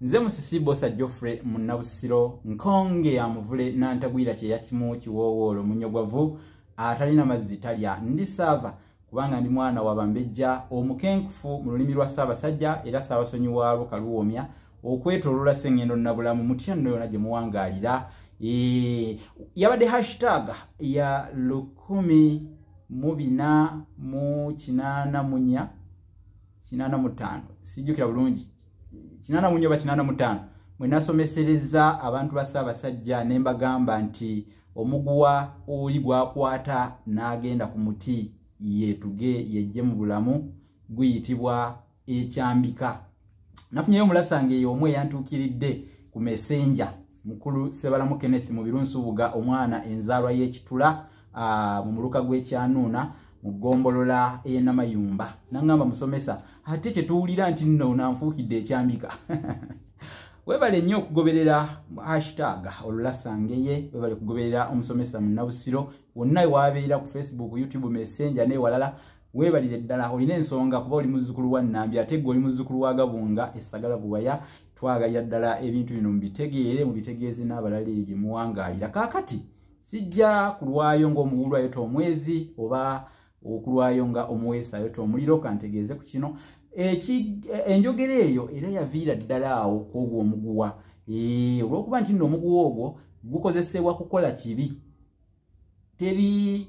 nze musisi bosa geoffrey munnabusiro nkonge ya muvule nantagwira kyeya kimu kiwoowoolo munyogwavu atalina mazzi talya ndi saava kubanga ndi mwana wa bambejja omukenkufu mu lulimi lwa ssaabasajja era ssaabasonyi wa luka luwoomya okwetolola sengendo nabulamu mutya nno yona gye muwangaalira yabadde hashtag ya lukumi mu bina mu kinaana munya kinaana mu ttaano sijjukira bulungi kinana munyoba kinana mutano mwenasomesereza abantu ba Ssaabasajja ne mbagamba nti omuguwa oli gwakwata n'agenda ku muti yeetuge yejje mu bulamu guyitibwa ekyambika nafunyeyo omulasanga eyo omu eyantuukiridde ku mesenja mukulu sebalamu kenneth mu birunsubuga omwana enzaalwa y'ekitula mu muluka gw'ekyanuuna mu ggombolola ey'enamayumba naŋŋamba musomesa ate kye tuwulira nti nno nanfuukidde ekyambika webale nnyo okugoberera hashtag olulasangeye webale kugoberera omusomesa munnabusiro wonna ewabeera ku facebook youtube messenger newalala webalire ddala olina ensonga kuba oli muzzukulu wa nambi ate gwe oli muzzukulu wa gabunga esagala buwaya twagalira ddala ebintu bino mubitegeere mubitegeeze n'abalala ebyo muwangaalira kaakati sijja kulwayo ng'omuwulu ayota omwezi oba okulwayo nga omuweesi ayota omuliro kantegeeze ku kino enjogera eyo era yaviira ddala awo kwogwo omuguwa olwokuba nti nno omuguwa ogwo gukozesebwa kukola kibi teri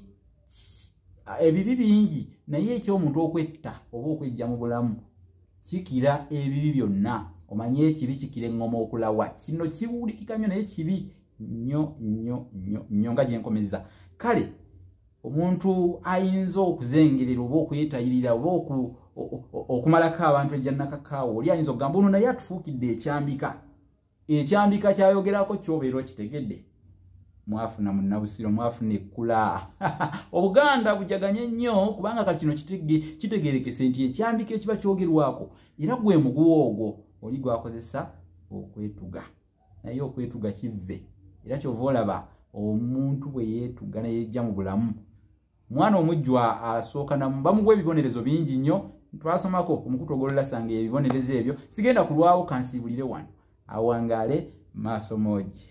ebibi bingi naye ekyomuntu okwetta oba okwejja mu bulamu kikira ebibi byonna omanye ekibi kikira eŋŋoma okulawa kino kiwulikika nnyo naye kibi nnyo nnyo nnyo nnyo nga gyenkomeza kale omuntu ayinza okuzengerera oba okwetayirira oba okumalako abantu ejjannakakaawo oli ayinza okugamba ono naye atufuukidde ekyambika ekyandika kyayogerako kyobeera okitegedde mwafuna munnabusiro mwafuna ekkula obuganda bujaganye nnyo kubanga kati kino kitegerekese nti ekyandika ekiba kyogerwako era gwe muguwa ogwo oli gwakozesa okwetuga naye okwetuga kivve era kyova olaba omuntu bwe yeetuga neyejja mu bulamu mwana omujjwa asooka namu bamugwa ebibonerezo bingi nnyo twasomako omukutu ogolola sanga ebibonerezo ebyo sigenda kulwawo kansiibulire wano awangaale maaso moogi